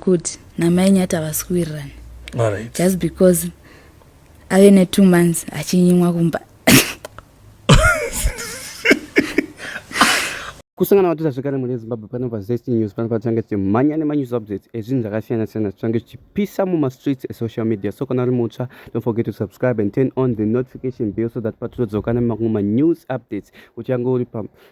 kuti namai nyati havasi kuwirirana right. just because ave netwo months achinyimwa kumba kusangana vatira zvekare mune zimbabwe pano pazest news pano patichange tichimhanya nemanews updates ezvinhu zvakasiyana-siyana tichange tichipisa mumastreets esocial media so kana uri mutsva don't forget to subscribe and turn on the notification bill so that patotodzoka nemamwe manews updates uchange uri pa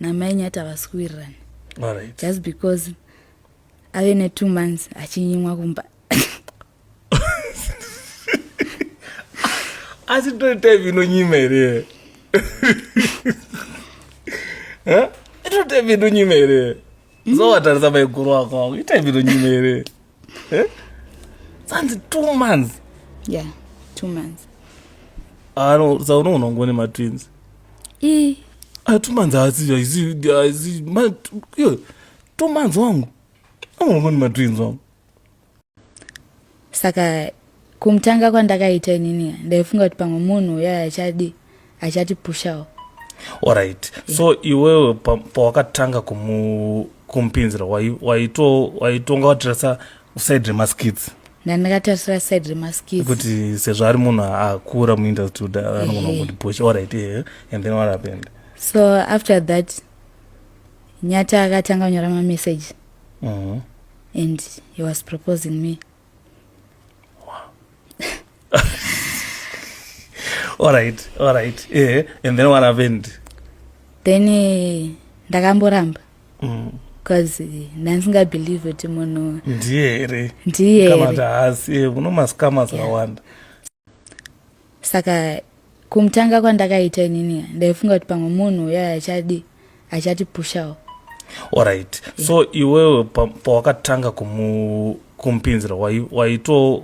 namai nyati havasi kuwirirana right. just because ave netwo months achinyimwa kumba asi tori type inonyima here tori type inonyima here zowatarisa maiguru ako ako itype inonyima here Eh? Sanzi two months. Yeah, two months. Ah no, sa uno unongone ma twins. Eh. Ah two months asi asi asi ma yo two months wangu. Unongone ma twins wangu. Saka Kumutanga kwandakaita inini ndaifunga kuti pamwe munhu uya achadi achatipushawo. Alright. Yeah. So iwewe pawakatanga kumu kumpinzira waito waitonga watirasa side remaskits ndandakatarisira side remaskits kuti sezvo ari munhu akura muindustry kuti anogona kuti push alright eh and then what happened so after that nyata akatanga kunyora mamessage mm -hmm. and he was proposing me all right all right yeah. and then what happened then eh, ndakamboramba mm. bcause eh, ndandisingabelieve kuti munhu ndiye here ndiye here kana kuti haasi eh, kuno maskama akawanda yeah. saka kumutanga kwandakaita inini ndaifunga kuti pamwe munhu uya achadi achatipushawo orit yeah. so iwewe pawakatanga kumupinzira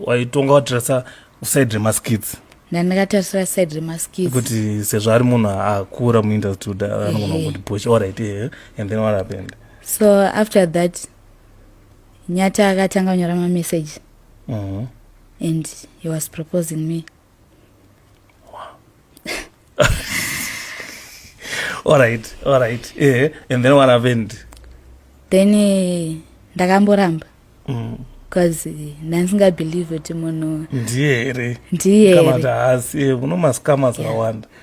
waitonga watirasa side remaskits ndandakatarisira side remaskits kuti sezvo ari munhu akura muindustry kuti anogona kundipusha orit eh, and then what happened so after that nyata akatanga kunyora mamessage mm -hmm. and he was proposing me alright alright yeah. and then what happened then eh, ndakamboramba mm. bcause eh, ndandisingabelieve kuti munhu ndiye here ndiye here kana kuti haasi eh, kuno maskama akawanda yeah.